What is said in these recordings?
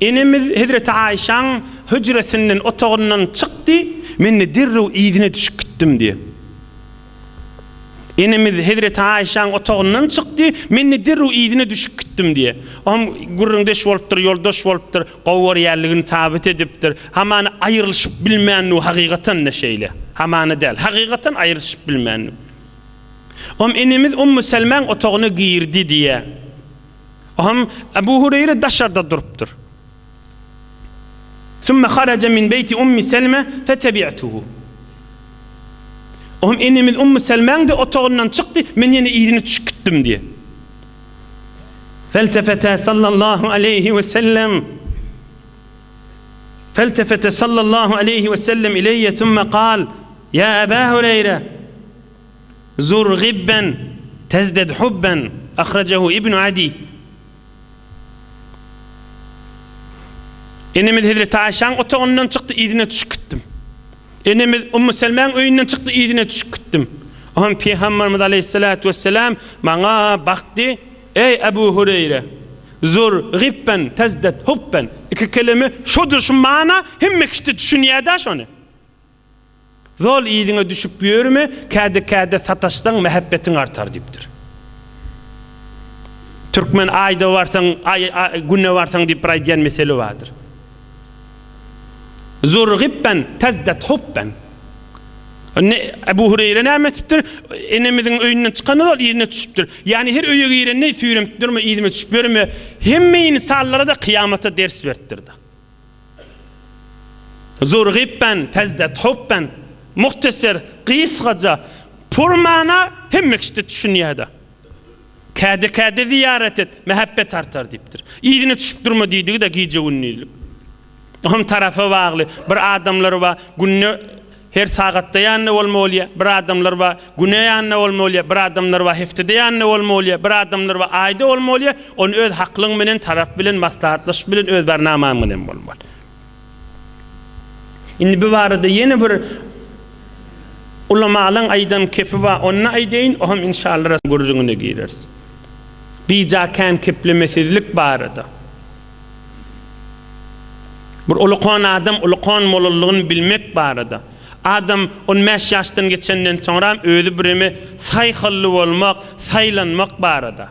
Enemiz hezreti Aişaň hüjresinden, otagyndan çykdy, men-de derrew yzyna düşüp gitdim diýýär. Enemiz hezreti Aişaň otagyndan çykdy, men-de derrew yzyna düşüp gitdim diýýär. O hem gürrüňdeş bolupdyr, ýoldaş bolupdyr, gowy görýänligini sabyt edipdir. Hamana aýrylyşyp bilmändir hakykatan-da şeýle. Hamana däl, hakykatan aýrylyşyp bilmändir. O hem enemiz Ummu Selmäň otagyna girdi diýýär. Oňam Abu Hureýre daşarda durupdyr. Summa haraja min beýti Ummi Selme fetebi'tuhu. Oňam enemiz Ummu Selmäň-de otagyndan çykdy, men ýene yzyna düşüp gitdim diýýär. Feltefete sallallahu aleýhi we sellem Feltefete sallallahu aleýhi we sellem ileýe summa kal, Ýa Aba Hureýre! Zur gibben tezded hubben, ahrajehu Ibnu Adi. Enemiz Hezreti Aişäň otagyndan çykdy, yzyna düşüp gitdim. Enemiz Ummu Selmäň öýünden çykdy, yzyna düşüp gitdim. O hem Pygamberimiz Aleýhissalatu wesselam maňa bakdy, Eý Ebu Hureýre! Zur gibben tezded hubben, iki kelime şudur şu mana, hemme kişide düşünýädä şony. Zol yzyňa düşüp ýörme, käde-käde sataşsaň mähebbetiň artar diýipdir. Türkmen aýda barsaň, güne barsaň diýip bir aýdýan meseli bardyr. Zur gibben tezded hubben. Indi Ebu Hureýre näme etipdir? Enemiziň öýünden çykanda zol yzyna düşüpdir. Ýagny her öýe girende süýrenip durma, yzyma düşüp ýörme, hemme ynsanlara-da kyýamata ders beripdir-de. Zurgibben, tezded hubben, muhtaser, gysgaja, pur mana hemme kişide düşünýäda. Käde-käde zyýarat et, mähebbet artar diýipdir. Yzyna çüşüp durma diýdigi-de gije-gündizlik. Oňam tarapa bagly. Bir adamlary bar, günde Her sagatda ýanynda bolma bolýa bir adamlar ba güne ýanynda bolma bolýa bir adamlar ba heftede ýanynda bolma bolýa bir adamlar ba aýda bolma bolýa ony öz haklyň menen tarap bilen maslahatlaşyp bilen öz barnamaň menen bolma bolýa. Indi bu barada ýene bir ulamalaň aýdan kepi ba onna aýdaýyn oham inşallara gürrüňine gireris. Bija kän keplemesizlik barada. Bir ulukan adam ulukan bolalygyny bilmek barada. Adam on bäş ýaşdan geçenden soňram özi bireme saýhally bolmak, saýlanmak barada.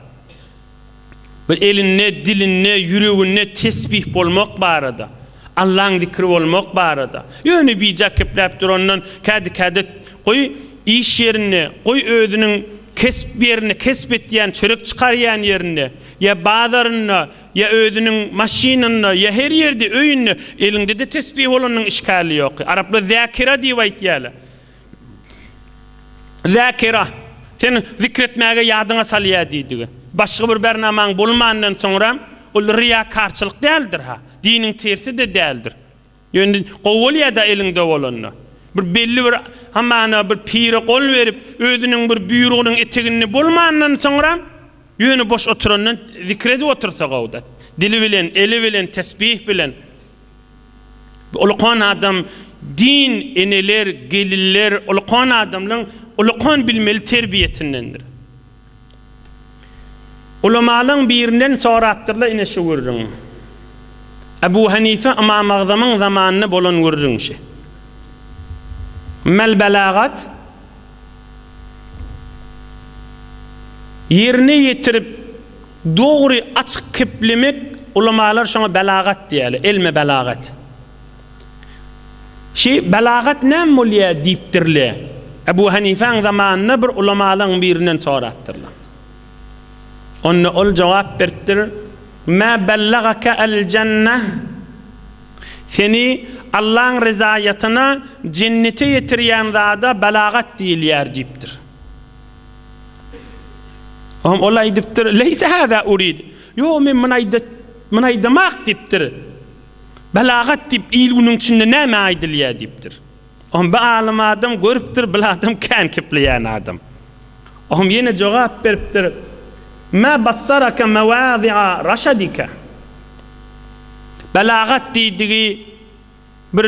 Bir elinde, dilinde, ýüreginde tesbih bolmak barada. Allaň zikri bolmak barada. Ýöne bije kepläp durandan kädi-käde goý iş ýerinde, goý özüniň kesp ýerinde, kesp etýän, çörek çykarýan ýerinde, ýa bazarynda, Ýa özüniň maşynynda, ýa her ýerde, öýünde, eliňde-de tesbih bolanyň işgäli ýok. Araplar Zäkira diýip aýtýarlar. Zäkira, seni zikr etmäge ýadyňa salýar diýdigi. Başga bir bernamaň bolmandan soňra, ol ryýakarçylyk däldir-hä, diniň tersi-de däldir. Ýöne gowy bolýada eliňde bolanda. Bir belli bir hamana bir pire gol berip, özüniň bir buýrugynyň eteginde bolmandan soňra, ýöne boş oturandan zikir edip otursa gowuda. Dili bilen, eli bilen, tesbih bilen. Ulakan adam din eneler, gelinler, ulakan adamlaň ulakan bilmeli terbiýesindendir. Ulamalaň birinden sorapdyrlar ine şu gürrüň. Ebu Hanife Ymamagzamyň zamanynda bolan gürrüň şu. Mel belagat ýerine ýetirip dogry açyk keplemek ulamalar şoňa belagat diýýärler, elme belagat. Şi, belagat näme bolýa? diýipdirler. Ebu Hanifäň zamanynda bir ulamalaryň birinden sorapdyrlar. Onda ol jogap beripdir, Mä bellagaka el-jenneh? Seni Allaň ryzaýatyna, jennete ýetirýän zada belagat diýilýär diýipdir. Oňa ol aýdypdyr, Leýse hada urid, Ýok, men muny aýdamak diýipdir. Belagat diýip il-günüň içinde näme aýdylýar diýipdir. Oňa bir alym adam görüpdir, bir adam kän kepleýän adam. Oňa ýene jogap beripdir, Mä bassaraka mewâzi'a raşadika. Belagat diýdigi bir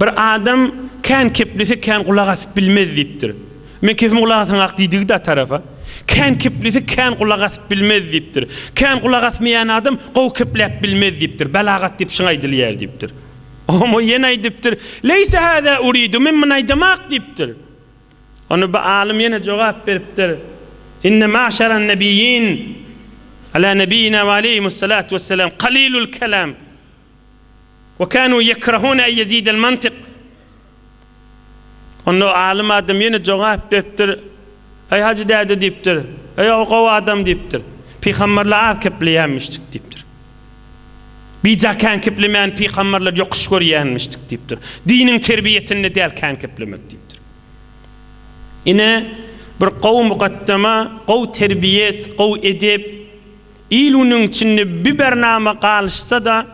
Bir adam Kän keplese kän gulak asyp bilmez diýipdir. Men kepimi gulak asaňak diýdigi dat tarapa. Kän keplese kän gulak asyp bilmez diýipdir. Kän gulak asmaýan adam gowy kepläp bilmez diýipdir. Belagat diýip şyň aýdylýar diýipdir. Omo ýene aýdypdyr, Leýse hada uridu, men muny aýdamak diýipdir. Onda bu alym ýene jogap beripdir, Inne maşaran nebiyyin, ala nebiyina we aleyhimus salatu wessalam, kalilul kelam, we kanu yekrahuna en yezidel mantik. Onda o alym adam ýene jogap beripdir, Eý hajy däde diýipdir, eý o gowy adam diýipdir, pygamberler az kepleýänmişdik diýipdir. Bijaý kän keplemän pygamberler ýokuş görýänmişdik diýipdir. Diniň terbiýesinde däl kän keplemek diýipdir. Ine, bir gowy mugaddama, gowy terbiýet, gowy edep il-günüň içinde bibernaýma galyşsa-da,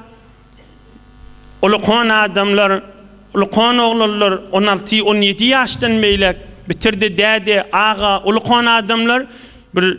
ulkan adamlar, ulkan oglanlar, on alty, on ýedi ýaşdan beýläk, bitir-de däde, aga, ulkan adamlar bir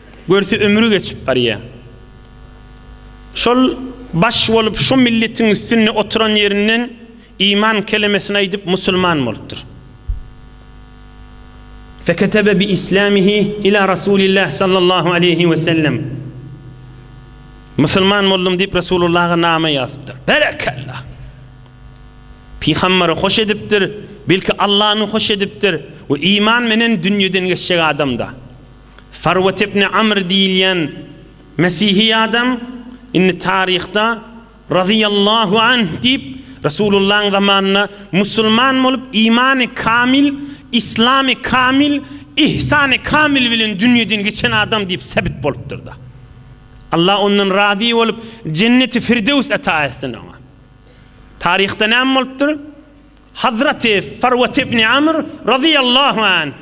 Görse ömri geçip barya. Şol baş bolup şu milletiň üstünde oturan yerinden iman kelemesini aýdyp musulman bolupdyr. Feketebe bi islamihi ila Rasulillah sallallahu aleýhi we sellem. Musulman boldum diýip Rasulullaha nama ýazypdyr. Berekella. Pygamberi hoş edipdir, belki Allany hoş edipdir we iman menen dünýeden geçjek adamda. Farwat ibn Amr diýilýän mesihi adam indi taryhda Razyýallahu anh diýip, Resulullahyň zamanynda musulman bolup, imany kamil, islamy kamil, ihsany kamil bilen dünýeden geçen adam diýip sebit bolupdyr-da. Allah ondan razy bolup, Jenneti Firdewsi ata etsin oňa. Taryhda näme bolupdyr? Hazraty Farwat ibn Amr Razyýallahu anh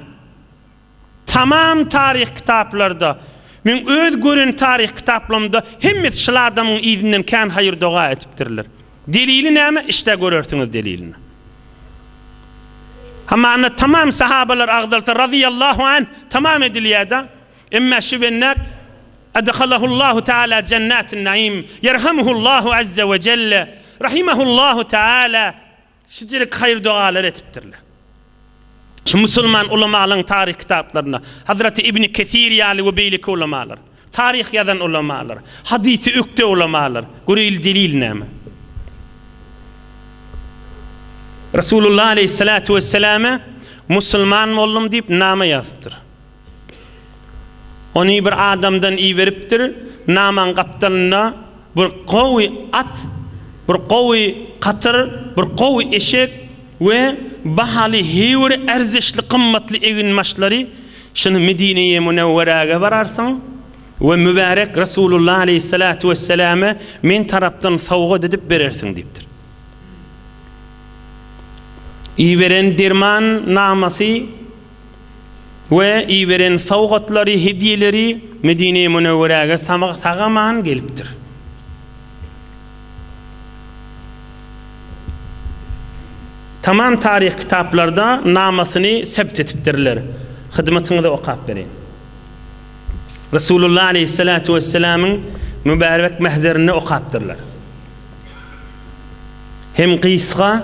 Tamam taryh kitaplarda, meň öz gören taryh kitaplamda hemmesi şyl adamyň yzyndan kän haýyr doga etipdirler. Delili näme? Işdä görersiňiz delilini. Hamana tamam sahabalar agzalsa razyýallahu anh tamam edilýäda. Emme şu bennäk Adhalahullahu taala jennatin naim, yerhamuhullahu azza we jelle, rahimahullahu taala. Şijirik haýyr-dogalar etipdirler. Şu musulman ulamalaryň taryh kitaplarynda, Hazraty Ibni Kesir ýaly we beýleki ulamalar, taryh ýazan ulamalar, hadysy ökde ulamalar, göreýli delil näme? Resulullah aleýhissalatu wesseläme musulman boldum diýip name ýazypdyr. Ony bir adamdan iberipdir, namaň gapdalynda bir gowy at, bir gowy katyr, bir gowy eşek we bahaly heýwir erzeşli gymmatly eginbaşlary, şuny Medineye Münewwerege bararsyň we mübärek Resulullah aleýhissalatu wesselame men tarapdan sowgat edip berersiň diýipdir. Iberen derman namasy. we iberen sowgatlary, hedýeleri Medine-i Münewweräge sag-aman gelipdir. Tamam taryh kitaplarda namasyny sebt etipdirler. Hyzmatyňyza okap bereýin. Resulullah aleýhissalatu wesselamyň mübärek mähzerinde okapdyrlar. Hem gysga.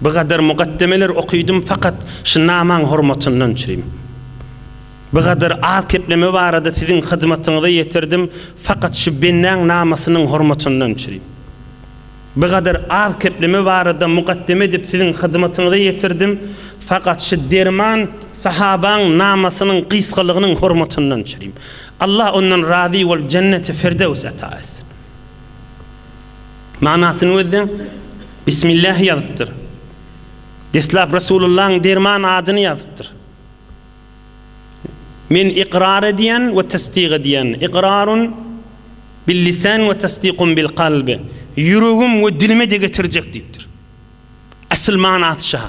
Bu gadar mukaddemeler okydym fakat şu namaň hormatyndan üçin. Bu gadar az kepleme barada siziň hyzmatyňyza ýetirdim fakat şu bendäň namasynyň hormatyndan üçin. Bu gadar az kepleme barada mukaddeme edip siziň hyzmatyňyza ýetirdim fakat şu derman sahabaň namasynyň gysgalygynyň hormatyndan üçin. Allah ondan razy bolup jenneti firdewsi ata etsin. Manasyny gözleň. Bismillah ýazypdyr. Deslap Resulullahyň derman adyny ýazypdyr. Men ykrar edýän we tassyk edýän. Ikrarun bil-lisan we tassykum bil-kalb. Ýüregim we dilime-de getirjek diýipdir. Asyl manasy şa.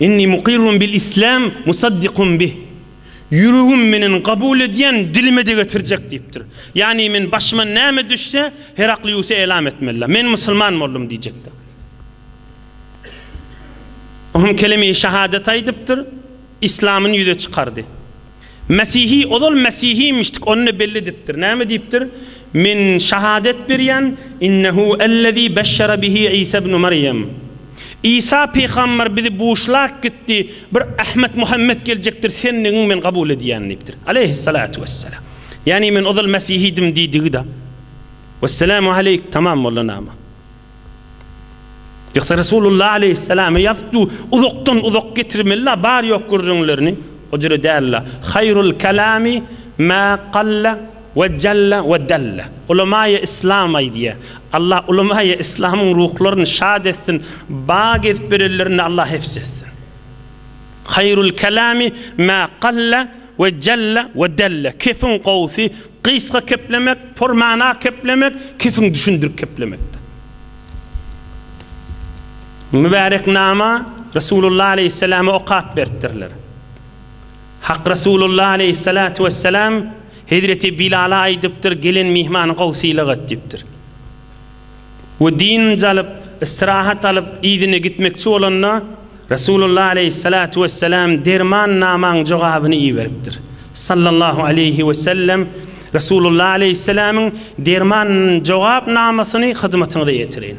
Inni mukirrun bil islam musaddiqun bih. Ýüregim menen kabul edýän, dilime-de getirjek diýipdir. Ýagny men başyma näme düşse, Herakliusa elam etmelidä. Men musulman boldum diýjekdir. O hem kelime-i şahadat aýdypdyr. Islamyny ýüze çykardy. Mesihi, ozal Mesihimişdik, ony-da belli edipdir. Näme diýipdir? Men şahadat berýän, Innehu ellezî beşşere bihi Isa ibnu Merýem. Isa pygamber bizi buşlap gitdi, bir Ahmet Muhammet geljekdir, sendigiňi men kabul edýän diýipdir. Aleýhessalatu wessalam. Ýagny men ozal Mesihidim diýdigi-da. Wesselamu aleýk tamam boldy nama. Ýogsa Resulullah aleýhissalamy ýazdy, uzakdan uzak getirmeli-la bar ýok gürrüňlerini, o jüre däl-la. Haýrul kalami ma galla we jalla we dalla. Ulamaýy islam aýdýar. Allah ulamaýy islamyň ruhlaryny şat etsin, ba gezip berenlerini Allah hepsi etsin. Haýrul kalami ma galla We jelle we delle, kefiň gowusy, gysga keplemek, purmana keplemek, kefiň düşündirip keplemekdir. Mübärek nama Resulullah aleýhissalama okap beripdirler. Hak Resulullah aleýhissalatu wessalam Hezreti Bilala aýdypdyr, gelen myhmany gowusylyk et diýipdir. we dynynç alyp, ystrahat alyp, yzyna gitmekçi bolanda, Resulullah aleýhissalatu wessalam derman namaň jogabyny iberipdir. Sallallahu aleýhi wesellem, Resulullah aleýhissalamyň derman jogap namasyny hyzmatyňyza ýetireýin.